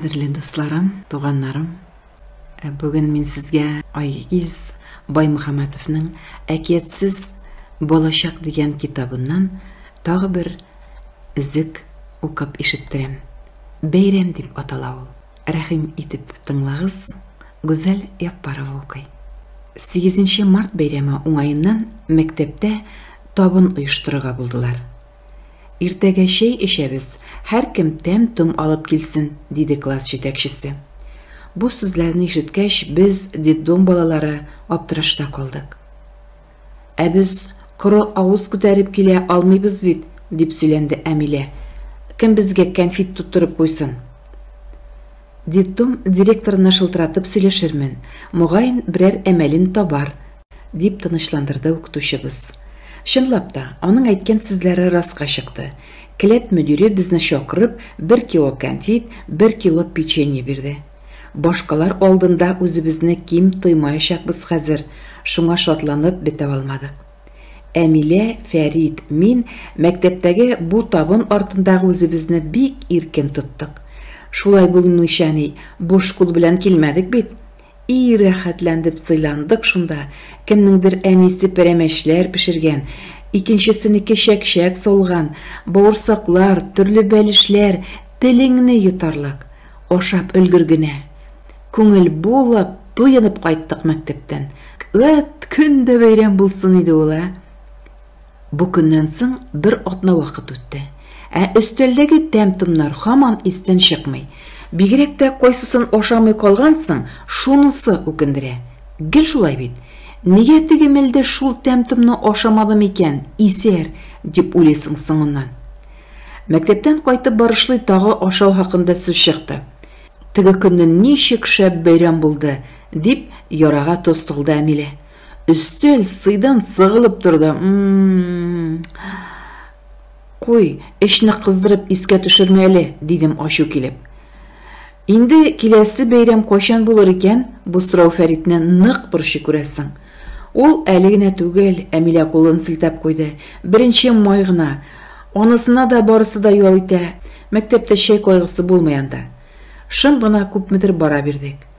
Кадерле дусларым, туганнарым, э, бүген мин сезгә Айгиз Баймөхәммәтовның Әкиятсез балачак дигән китабыннан тагы бер үзек укып ишеттерәм. Бәйрәм дип атала ул. Рәхим итеп тыңлагыз, Гүзәл Яппарова укый. 8 март бәйрәме уңаеннан мәктәптә табын оештырырга булдылар. Иртәгә чәй эчәбез, һәркем тәм-том алып килсен, диде класс җитәкчесе. Бу сүзләрне ишеткәч, без, детдом балалары, аптырашта калдык. Ә без коры авыз күтәреп килә алмыйбыз бит, дип сөйләнде Әмилә. Кем безгә кәнфит тоттырып куйсын? Детдом директорына шылтыратып сөйләшермен, мөгаен, берәр әмәлен табар, Дип тынычландырды укытучыбыз. Чынлап та, аның әйткән сүзләре раска чыкты. Келәт мөдире безне чакырып, бер кило кәнфит, бер кило печенье бирде. Башкалар алдында үзебезне ким тоймаячакбыз хәзер, шуңа шатланып бетә алмадык. Әмилә, Фәрит, мин мәктәптәге бу табын артындагы үзебезне бик иркен тоттык. Шулай булмыйча ни, буш кул белән килмәдек бит. И рәхәтләндеп сыйландык шунда, кемнеңдер әнисе пәрәмәчләр пешергән, икенчесенеке чәкчәк салган, бавырсаклар, төрле бәлешләр, телеңне йотарлык! Ашап өлгер генә! Күңел булып, туенып кайттык мәктәптән. Вәт, көн дә бәйрәм булсын иде ул, ә! Бу көннән соң бер атна вакыт үтте, ә өстәлдәге тәм-томнар һаман истән чыкмый. Бигрәк тә кайсысын ашамый калгансың, шунысы үкендерә. Гел шулай бит. Нигә теге мәлдә шул тәм-томны ашамадым икән, исәр, дип уйлыйсың соңыннан. Мәктәптән кайтып барышлый тагы ашау хакында сүз чыкты. Теге көнне ничек шәп бәйрәм булды, дип ярага тоз салды Әмилә. Өстәл сыйдан сыгылып торды. М-м-м. Куй, эчне кыздырып искә төшермә әле, дидем ачу килеп. Инде киләсе бәйрәм кайчан булыр икән? Бу сорау Фәритне нык борчый күрәсең. Ул әле генә түгел, Әмилә кулын селтәп куйды. Беренче май гына. Анысына да барысы да ял итә. Мәктәптә чәй кайгысы булмый анда. Шым гына күпмедер бара бирдек.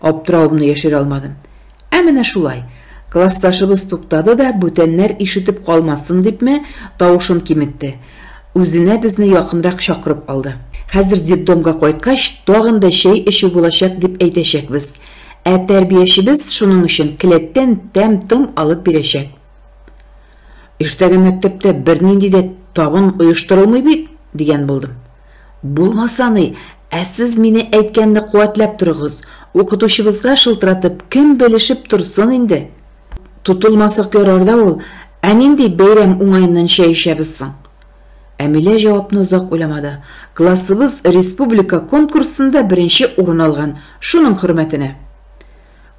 Аптыравымны яшерә алмадым. Ә менә шулай. Классташыбыз туктады да, бүтәннәр ишетеп калмасын дипме, тавышын киметте. Үзенә безне якынрак чакырып алды. Хәзер детдомга кайткач, тагын да чәй эчү булачак дип әйтәчәкбез. Ә тәрбиячебез шуның өчен келәттән тәм-том алып бирәчәк. Иртәгә мәктәптә бернинди дә табын оештырылмый бит, дигән булдым. Булмаса ни, ә сез мине әйткәнне куәтләп торыгыз, укытучыбызга шылтыратып, кем белешеп торсын инде. Тотылмасак ярар да ул, ә нинди бәйрәм уңаеннан чәй эчәбез соң? Әмилә җавапны озак уйламады. Классыбыз республика конкурсында беренче урын алган, шуның хөрмәтенә.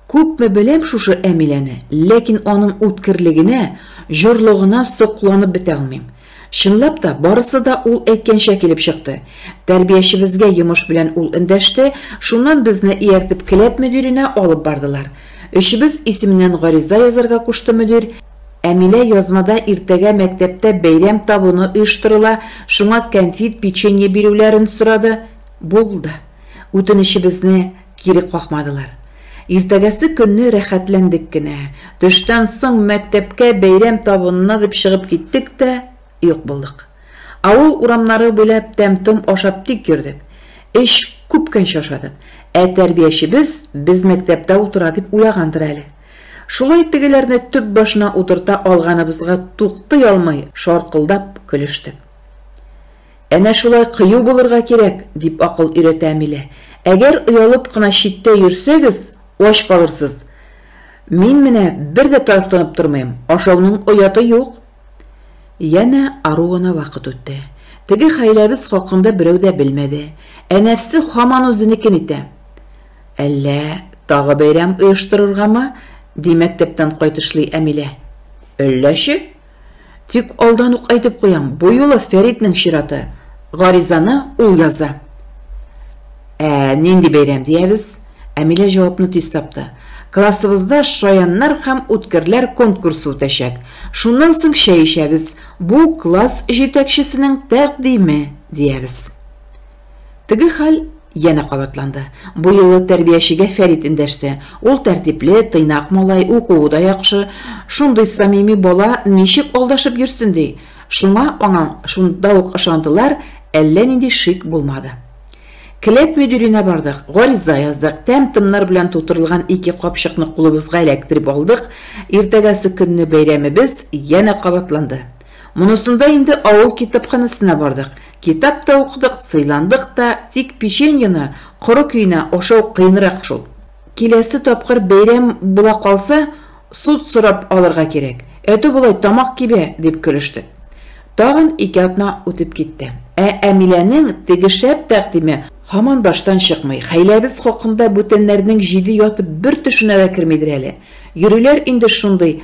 Күпме беләм шушы Әмиләне, ләкин аның үткерлегенә, җорлыгына сокланып бетә алмыйм. Чынлап та, барысы да ул әйткәнчә килеп чыкты. Тәрбиячебезгә йомыш белән ул эндәште, шуннан безне ияртеп келәт мөдиренә алып бардылар. Өчебез исеменнән гариза язарга кушты мөдир. Әмилә язмада иртәгә мәктәптә бәйрәм табыны оештырыла, шуңа кәнфит, печенье бирүләрен сорады. Булды. Үтенечебезне. Кире какмадылар. Иртәгәсе көнне рәхәтләндек кенә. Төштән соң мәктәпкә бәйрәм табынына дип чыгып киттек тә, юк булдык. Авыл урамнары буйлап тәм-том ашап тик йөрдек. Эч, күпкәнче ашадык. Ә тәрбиячебез без мәктәптә утыра дип уйлагандыр әле. Шулай тегеләрне төп башына утырта алганыбызга туктый алмый шаркылдап көлештек. Әнә шулай кыю булырга кирәк, дип акыл өйрәтә Амилә. Әгәр оялып кына читтә йөрсәгез, ач калырсыз. Мин менә бер дә таяктанып тормыйм, ашауның ояты юк. Янә ару гына вакыт үтте. Теге хәйләбез хакында берәү дә белмәде. Ә нәфсе һаман үзенекен итә. Әллә тагы бәйрәм оештырыргамы? ди мәктәптән кайтышлый Амилә. Әлләче? Тик алдан ук әйтеп куям, бу юлы Фәритнең чираты, гаризаны ул яза. Ә нинди бәйрәм диябез? Әмилә җавапны тиз тапты. Классыбызда шаяннар һәм үткерләр конкурсы үтәчәк. Шуннан соң чәй эчәбез, бу класс җитәкчесенең тәкъдиме, диябез. Теге хәл янә кабатланды. Бу юлы тәрбиячегә Фәрит эндәште. Ул тәртипле, тыйнак малай, укуы да яхшы. Шундый самими бала ничек алдашып йөрсен ди? Шуңа аңа шунда ук ышандылар, әллә нинди шик булмады. Келәт мөдиренә бардык, гариза яздык, тәм-томнар белән тутырылган ике капчыкны кулыбызга эләктереп алдык, иртәгәсе көнне бәйрәмебез янә кабатланды. Монысында инде авыл китапханәсенә бардык. Китап та укыдык, сыйландык та, тик печеньены коры көенә ашау кыенрак шул. Киләсе тапкыр бәйрәм була калса, суд сорап алырга кирәк. Әтү болай тамак кибә, дип көлештек. Тагын ике атна үтеп китте. Ә Әмиләнең теге шәп тәкъдиме һаман баштан чыкмый. Хәйләбез хакында бүтәннәрнең җиде яты бер төшенә дә кермидер әле. Йөриләр инде шундый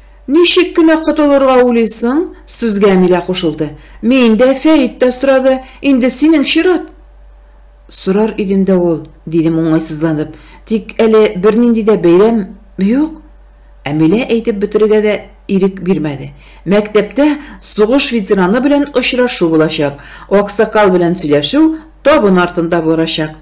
Ничек кенә котылырга уйлыйсың? Сүзгә Милә кушылды. Мин дә, Фәрит тә сорады. Инде синең чират. Сорар идем дә ул, дидем уңайсызланып. Тик әле бернинди дә бәйрәм юк. Ә Милә әйтеп бетерергә дә ирек бирмәде. Мәктәптә сугыш ветераны белән очрашу булачак. Аксакал белән сөйләшү табын артында барачак.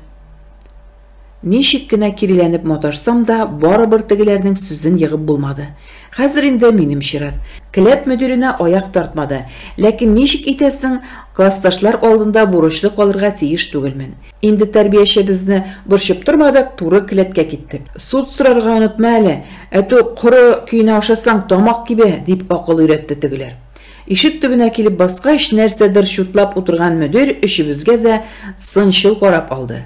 Ничек кенә киреләнеп маташсам да, барыбер тегеләрнең сүзен егып булмады. Хәзер инде минем чират. Келәт мөдиренә аяк тартмады. Ләкин ничек итәсең, классташлар алдында бурычлы калырга тиеш түгелмен. Инде тәрбиячебезне борчып тормадык, туры келәткә киттек. Суд сорарга онытма әле, ә то коры көенә ашасаң, тамак кибә, дип акыл өйрәтте тегеләр. Ишек төбенә килеп баскач, нәрсәдер чутлап утырган мөдир өчебезгә дә сынчыл карап алды.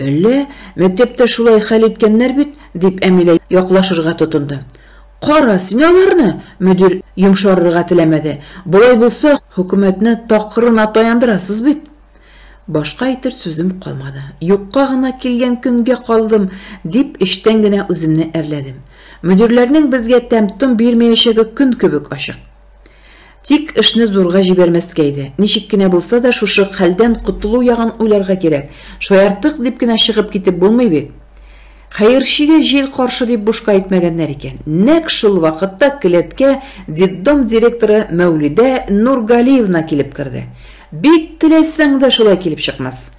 Әллә, мәктәптә шулай хәл иткәннәр бит, дип Әмилә яклашырга тотынды. Кара син аларны! Мөдир йомшарырга теләмәде. Болай булса, хөкүмәтне такырына таяндырасыз бит! Башка әйтер сүзем калмады. Юкка гына килгән көнгә калдым, дип эчтән генә үземне әрләдем. Мөдирләрнең безгә тәм-том бирмәячәге көн кебек ачык. Тик эшне зурга җибәрмәскә иде. Ничек кенә булса да, шушы хәлдән котылу ягын уйларга кирәк. Шаярттык дип кенә чыгып китеп булмый бит. Хәерчегә җил каршы дип бушка әйтмәгәннәр икән. Нәкъ шул вакытта келәткә детдом директоры Мәүлидә Нургалиевна килеп керде. Бик теләсәң дә шулай килеп чыкмас.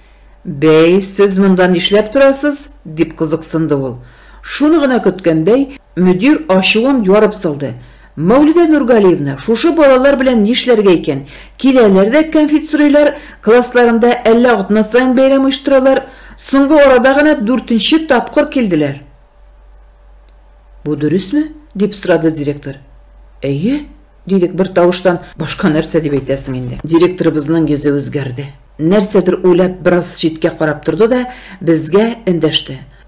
Бәй, сез монда нишләп торасыз? дип кызыксынды ул. Шуны гына көткәндәй, мөдир ачуын ярып салды. Мәүлидә Нургалиевна, шушы балалар белән нишләргә икән? Киләләр дә кәнфит сорыйлар, классларында әллә атна саен бәйрәм оештыралар. Соңгы арада гына дүртенче тапкыр килделәр. Бу дөресме? дип сорады директор. Әйе, дидек бертавыштан, башка нәрсә дип әйтәсең инде. Директорыбызның йөзе үзгәрде. Нәрсәдер уйлап, бераз читкә карап торды да, безгә эндәште.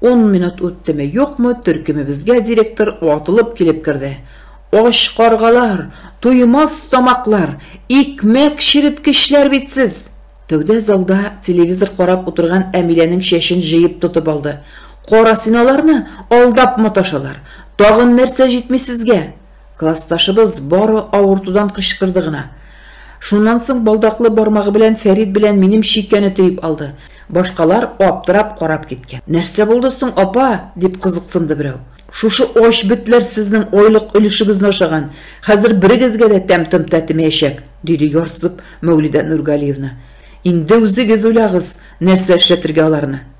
Ун минут үттеме-юкмы, төркемебезгә директор атылып килеп керде. Ач каргалар, туймас тамаклар, икмәк череткечләр бит сез! Тәүдә залда телевизор карап утырган Әмиләнең чәчен җыеп тотып алды. Кара син аларны, алдап маташалар! Тагын нәрсә җитми сезгә? Классташыбыз бары авыртудан кычкырды гына. Шуннан соң балдаклы бармагы белән Фәрит белән минем чикәне төеп алды. Башкалар аптырап карап киткән. Нәрсә булды соң, апа? дип кызыксынды берәү. Шушы ач бетләр сезнең айлык өлешегезне ашаган, хәзер берегезгә дә тәм-том тәтемәячәк, диде ярсып Мәүлидә Нургалиевна. Инде үзегез уйлагыз, нәрсә эшләтергә аларны.